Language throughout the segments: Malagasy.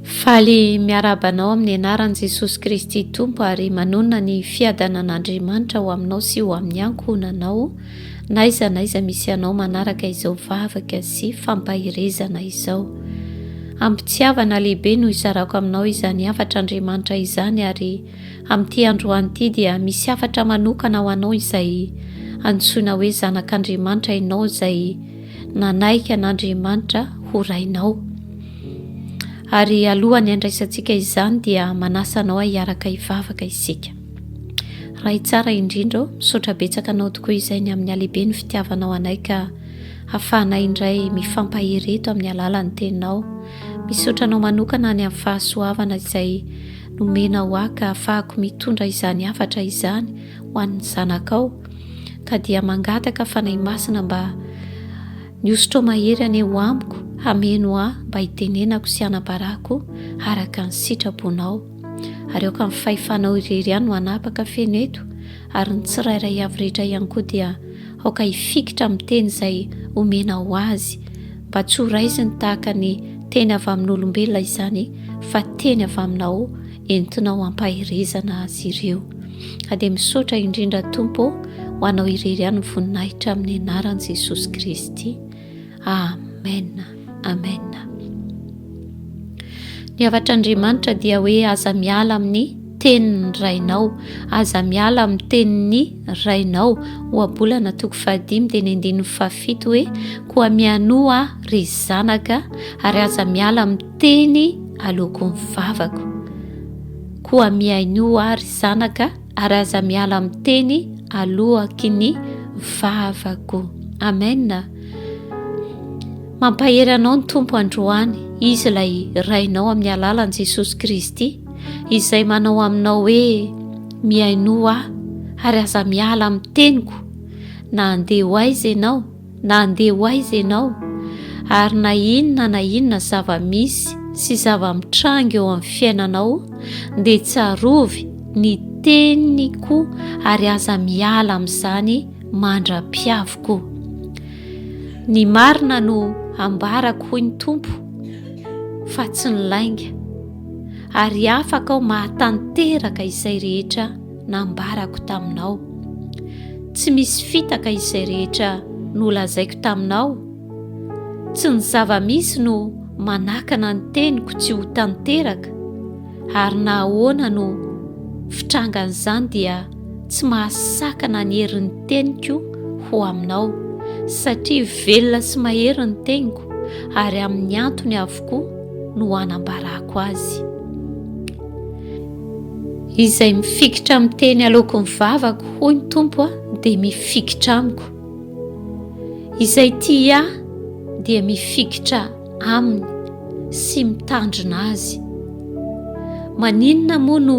Faly miarahaba anao amin'ny anaran'i Jesosy Kristy Tompo ary manonona ny fiadanan'Andriamanitra ho aminao sy ho amin'ny ankohonanao naiza naiza misy anao manaraka izao vavaka sy fampaherezana izao. Ampitiavana lehibe no isarako aminao izany hafatra Andriamanitra izany ary amin'ity androany ity dia misy hafatra manokana ho anao izay antsoina hoe zanak'Andriamanitra ianao izay nanaiky an'Andriamanitra ho Rainao. Ary alohan'ny handraisantsika izany dia manasa anao hiaraka hivavaka isika. Ray tsara indrindra ô, misaotra betsaka anao tokoa izay ny amin'ny halehibe ny fitiavanao anay ka hafahanay indray mifampahery eto amin'ny alalan'ny teninao. Misaotra anao manokana any amin'ny fahasoavana izay nomena ho ahy ka hafahako mitondra izany hafatra izany ho an'ny zanakao. ka dia mangataka Fanahy Masina mba Mihosotrao mahery anie ho amiko, hameno ahy mba hitenenako sy hanabarako araka ny sitraponao. Ary aoka ny fahefanao irery ihany no hanapaka feno eto, ary ny tsirairay avy rehetra ihany koa dia aoka hifikitra amin'ny teny izay omenao azy, mba tsy ho raisiny tahaka ny teny avy amin'olombelona izany fa teny avy aminao entinao ampaherezana azy ireo ka dia misaotra indrindra Tompo ho anao irery ihany ny voninahitra amin'ny anaran'i Jesosy Kristy Amen Amen ny havatr'Andriamanitra dia hoe aza miala amin'ny tenin'ny rainao aza miala amin'ny tenin'ny rainao ohabolana toko fahadimy dia ny andininy fahafito hoe koa mianoa ry zanaka ary aza miala amin'ny Teny aloako ny vavako. Koa mihainoa ahy ry zanaka ary aza miala amin'ny teny aloaky ny vavako. Amen. Mampahery anao ny Tompo androany, Izy ilay Rainao amin'ny alalan'i Jesosy Kristy, izay manao aminao hoe mihainoa ahy ary aza miala amin'ny teniko na handeha ho aiza ianao, na handeha ho aiza ianao, ary na inona na inona zava-misy sy zava-mitranga eo amin'ny fiainanao, dia tsarovy ny teniko ary aza miala amin'izany mandra-piaviko. Ny marina no ambarako, hoy ny Tompo, fa tsy ny lainga, ary afaka aho mahatanteraka izay rehetra nambarako taminao. Tsy misy fitaka izay rehetra nolazaiko taminao. Tsy ny zava-misy no manakana ny teniko tsy ho tanteraka, ary na ahoana no fitrangan'izany dia tsy mahasakana ny herin'ny teniko ho aminao, satria velona sy mahery ny teniko, ary amin'ny antony avokoa no anambarako azy. Izay mifikitra amin'ny teny aloako ny vavako, hoy ny Tompo a, dia mifikitra amiko. Izay tia ahy dia mifikitra aminy sy mitandrina azy. Maninona moa no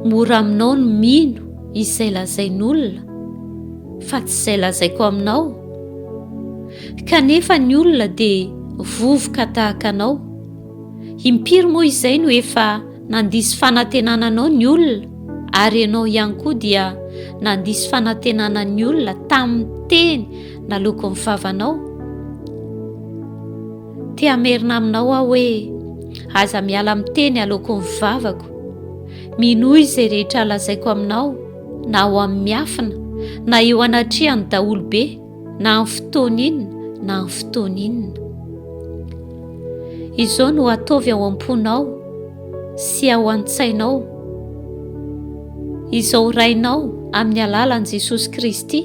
mora aminao ny mino izay lazain'olona fa tsy izay lazaiko aminao? Kanefa ny olona dia vovoka tahaka anao. Impiry moa izay no efa nandiso fanantenana anao ny olona ary ianao ihany koa dia nandiso fanantenana ny olona tamin'ny teny naloako ny vavanao? Te hamerina aminao aho hoe aza miala amin'ny teny aloako ny vavako. Minoa izay rehetra lazaiko aminao na ao amin'ny miafina na eo anatrehan'ny daholobe. na amin'ny fotoana inona na amin'ny fotoana inona. Izao no ataovy ao am-ponao sy ao an-tsainao. Izao rainao amin'ny alalan'i Jesosy Kristy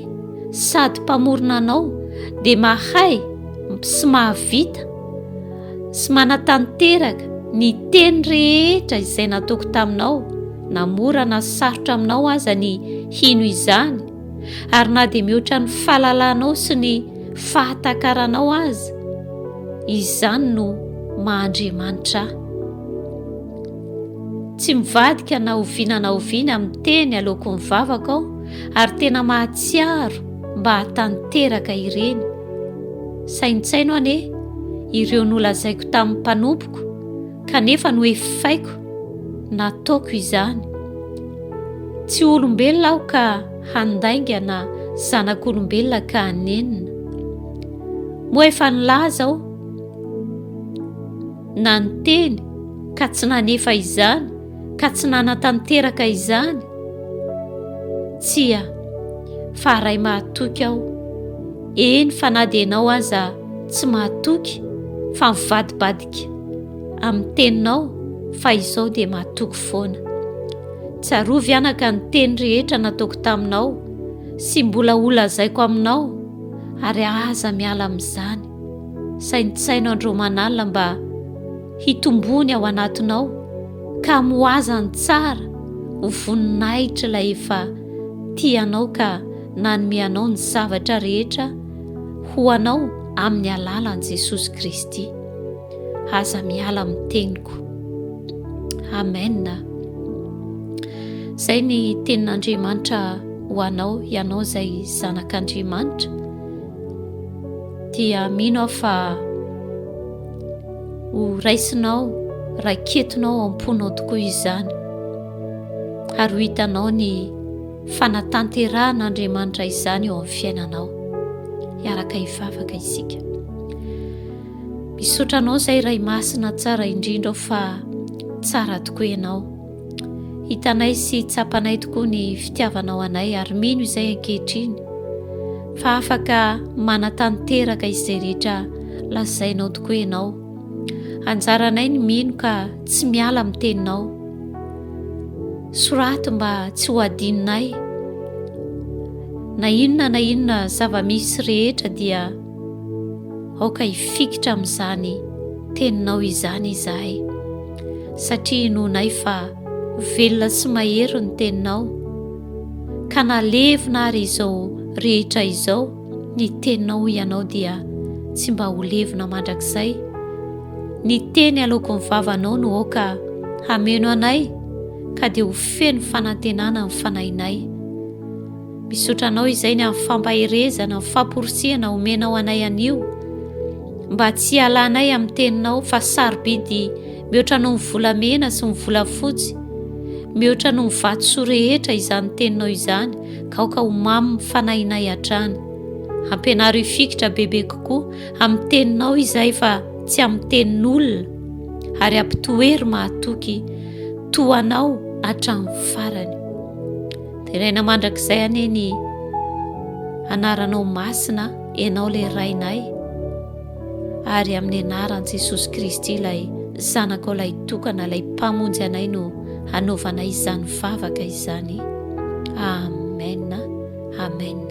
sady mpamorona anao dia mahay sy mahavita sy manatanteraka ny teny rehetra izay nataoko taminao na mora na sarotra aminao aza ny hino izany ary na dia mihoatra ny fahalalanao sy ny fahatakaranao aza, izany no maha Andriamanitra ahy. Tsy mivadika na oviana na oviana amin'ny teny aleoko ny vavaka aho, ary tena mahatsiaro mba hatanteraka ireny. Saintsaino anie ireo nolazaiko tamin'ny mpanompoko, kanefa nohefaiko nataoko izany. Tsy ho olombelona aho ka handaingana zanak'olombelona ka hanenina. Moa efa nilaza aho na niteny ka tsy nanefa izany ka tsy nanatanteraka izany? Tsia, fa Ray mahatoky aho. Eny fa na dia ianao aza tsy mahatoky fa mivadibadika Toky amin'ny teninao fa izao dia matoky foana. Tsarovy anaka ny teny rehetra nataoko taminao sy mbola holazaiko aminao ary aza miala amin'izany. Saintsaino andro manala mba hitombony ao anatinao ka moaza ny tsara ho voninahitr'ilay efa tianao ka nanome anao ny zavatra rehetra ho anao amin'ny alalan'i Jesosy Kristy. Aza miala amin'ny teniko. Amen. Izay ny tenin'Andriamanitra ho anao, ianao izay zanak'Andriamanitra. Dia mino aho fa ho raisinao, raiketinao ao am-ponao tokoa izany. Ary ho hitanao ny Fanatanterahan'Andriamanitra izany eo amin'ny fiainanao. Hiaraka hivavaka isika. Misotra anao izay Ray Masina tsara indrindra ao fa tsara tokoa ianao. Hitanay sy tsapanay tokoa ny fitiavanao anay ary mino izay ankehitriny fa afaka manatanteraka izay rehetra lazainao tokoa ianao. Anjaranay ny mino ka tsy miala amin'ny teninao. Soraty mba tsy ho adinonay. Na inona na inona zava-misy rehetra dia aoka hifikitra amin'izany teninao izany izahay satria inoanay fa velona sy mahery ny teninao ka na levona ary izao rehetra izao Ny teninao ianao dia tsy mba ho levona mandrakizay. Ny teny aloako ny vavanao no aoka hameno anay ka dia ho feno fanantenana ny fanahinay. Misotra anao izay ny amin'ny fampaherezana, ny famporisihana omenao anay anio mba tsy hialanay amin'ny teninao fa sarobidy mihoatra noho ny volamena sy ny volafotsy, mihoatra noho ny vatosoa rehetra izany teninao izany. Aoka ho mamy ny fanahinay hatrany. Ampianaro hifikitra bebe kokoa amin'ny Teninao izahay fa tsy amin'ny tenin'olona, ary ampitoe ry mahatoky toa anao hatramin'ny farany. Deraina mandrakizay anie ny Anaranao masina, Ianao ilay Rainay. ary amin'ny anaran'i Jesosy Kristy ilay Zanakao ilay tokana, ilay Mpamonjy anay no hanaovanay izany vavaka izany. Amen. Amen.